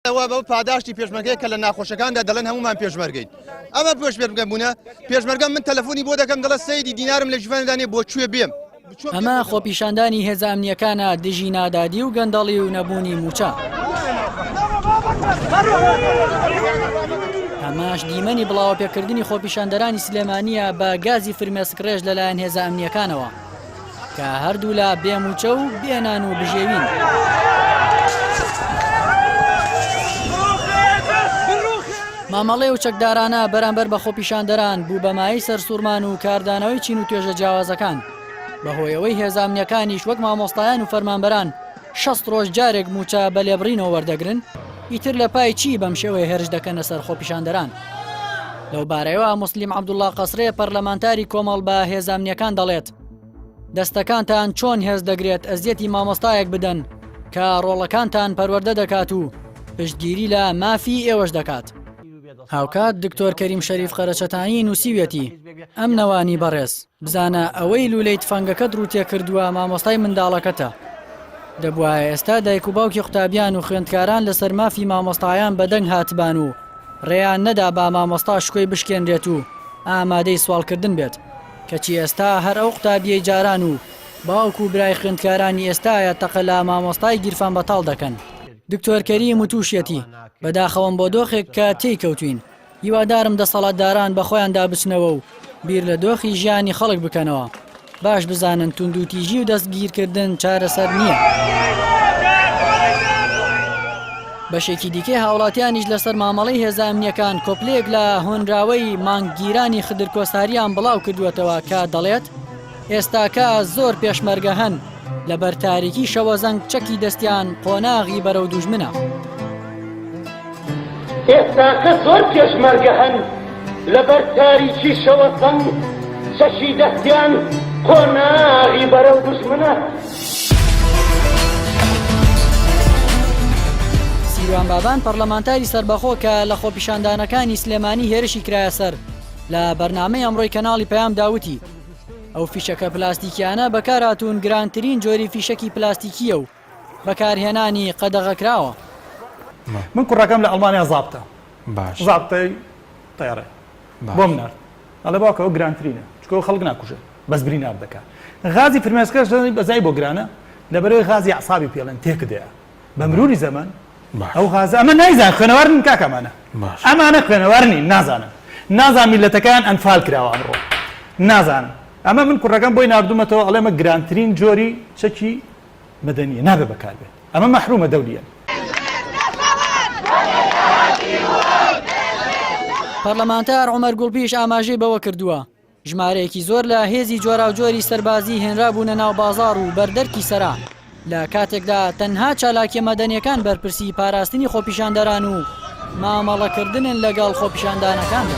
ئەوە بەو پاداشتی پێشمەرگەیە کە لە ناخۆشەکاندا دەڵێن هەمومان پێشمەرگین ئەمە پێشمەرگە بوونە پێشمەرگە من تەلەفۆنی بۆ دەکەم دەڵە سەیدی دینارم لە ژیوانەدانێ بۆ کوێ بێم ئەمە خۆپیشاندانی هێزە ئەمنیەکانە دژی نادادی و گەندەڵی و نەبوونی موچە. ئەماش دیمەنی بڵاوەپێکردنی خۆپیشاندەرانی سلێمانە بە گازی فرمێسک ڕێژ لەلایەن هێزە ئەمنیەکانەوە. کە هەردوولا بێ مووچە و بێ نان و بژێوین. مامەڵەی ئەو چەکدارانە بەرامبەر بە خۆپیشاندەران بوو بە مایەی سەرسووڕمان و کاردانەوەی چین و توێژە جیاوازەکان. بەهۆیەوەی هێزە ئەمنییەکانیش وەک مامۆستایان و فەرمانبەران، شەست ڕۆژ جارێک مووچە بە لێبڕینەوە وەردەگرن؟ ئیتر لە پای چی بەم شێوەیە هێرش دەکەنە سەر خۆپیشاندەران؟ لەو بارەیەوە موسلیم عەبدوڵڵا قەسرێ پەرلەمانتاری کۆمەڵ بە هێزە ئەمنییەکان دەڵێت، دەستەکانتان چۆن هێز دەگرێت ئەزیەتی مامۆستایەک بدەن کە ڕۆڵەکانتان پەروەردە دەکات و پشتگیری لە مافی ئێوەش دەکات؟ هاوکات دکتۆر کەریم شەریف قەرەچەتانی نووسیویەتی، ئەم نەوانی بەڕێز، بزانە ئەوەی لولەی تفەنگەکەت ڕووتێکردووە مامۆستای منداڵەکەتە. دەبوایە ئێستا دایک و باوکی قوتابیان و خوێندکاران لەسەر مافی مامۆستایان بەدەنگ هاتبان و ڕێیان نەدابا مامۆستا شکۆی بشکێنرێت و ئامادەی سواڵکردن بێت. کەچی ئێستا هەر ئەو قوتابیەی جاران و باوک و برای خوێندکارانی ئێستایە تەقە لە مامۆستای گیرفانبەتاڵ دەکەن. دکتۆر کەریم وتوشیەتی، بەداخەوەم بۆ دۆخێک کە تێی کەوتوین. هیوادارم دەسەڵاتداران بەخۆیاندا بچنەوە و بیر لە دۆخی ژیانی خەڵک بکەنەوە، باش بزانن توندوتیژی و دەستگیرکردن چارەسەر نییە. بەشێکی دیکەی هاوڵاتیانیش لەسەر مامەڵەی هێزە ئەمنییەکان کۆپلەیەک لە هۆنراوەی مانگگیرانی خدر کۆساریان بڵاوکردووەتەوە کە دەڵێت، ئێستاکە زۆر پێشمەرگە هەن لە بەر تاریکی شەوەزەنگ چەکی دەستیان قۆناغی بەرەو دوژمنە. ئێستاکە زۆر پێشمەرگە هەن لە بەر تاریکی شەوەزەنگ چەکی دەستیان قۆناغی بەرەو دوژمنە. سیروان بابان پەرلەمانتاری سەربەخۆ کە لە خۆپیشاندانەکانی سلێمانی هێرشی کرایە سەر، لە بەرنامەی ئەمڕۆی کەناڵی پەیامدا وتی، ئەو فیشەکە پلاستیکیانە بەکارهاتوون گرانترین جۆری فیشەکی پلاستیکیە و بەکارهێنانی قەدەغەکراوە. من کوڕەکەم لە ئەڵمانیا زابتە باش زابتەی تەیارە بۆم نارد ئەڵێ باوکە ئەو گرانترینە چکۆ خەڵک ناکوژێ بەس بری ناردەکە غازی فرمێسکەش بەزای بۆ گرانە لەبەرەوەی غازی عسابی پێڵێن تێکدەیە بە مروری زەمەن ئەو غازە ئەمە نایزان خوێنەوار نین کاکە ئەمانە ئەمانە خوێنەوار نین نازانن نازان میلەتەکەیان ئەنفال کراوە ئەمڕۆ نازانن ئەمە من کوڕەکەم بۆی ناردوومەتەوە ئەڵێ ئەمە گرانترین جۆری چەکی مەدەنیە نابێ بەکاربێت ئەمە مەحرومە دەولیەن پەرلەمانتار عومەر گوڵبیش ئاماژەی بەوە کردووە، ژمارەیەکی زۆر لە هێزی جۆراوجۆری سەربازی هێنرابوونە ناو بازاڕ و بەردەرکی سەران، لە کاتێکدا تەنها چالاکیە مەدەنیەکان بەرپرسی پاراستنی خۆپیشاندەران و مامەڵەکردنن لەگەڵ خۆپیشاندانەکاندا.